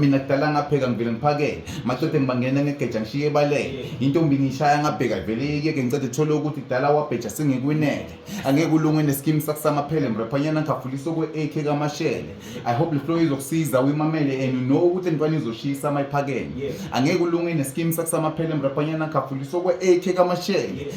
Mina kudala ngapheka ngivele ngiphakele madoda ngibangena ngegeja ngishiye ebalele intombi ngiyishaya ngabheka vele yeke ngicede thole ukuthi kudala wabheja singekwinele angeke ulunge nesikimu sakusamaphele mraphanyana ngikhafuliswa kwe-ak kamashele i hope le flow izokusiza uyimamele and you know ukuthi entwana izoshisa uma iphakeme angeke ulunge nesikimu sakusamaphele mraphanyana ngikhafuliswa kwe-ak kamashele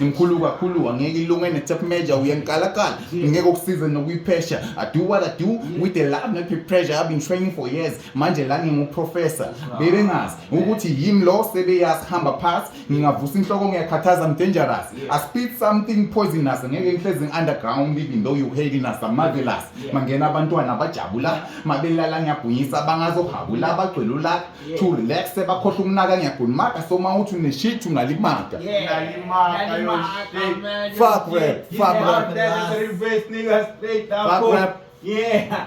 Imkhulu kakhulu angeke ilunge ne-tap major uyangikalakala ngeke ukusize nokuyiphesha I do what I do with the love not with pressure I've been training for years manje la nginguprofessor bebengazi ukuthi yimi lo sebeyazi hamba phansi ngingavusa inhloko ngiyakhathaza I'm dangerous I spit something poisonous ngeke ngihlezi ngi-underground even though you hating us I'm marvelous mangena abantwana bajabula mabelala ngiyabhunyisa bangazohabula bagcwele ulaka yeah. to relax bakhohle ukunaka ngiyagula maka so uma uthi uneshit ungalimaka fuck rap fuck rap fuck rap yeah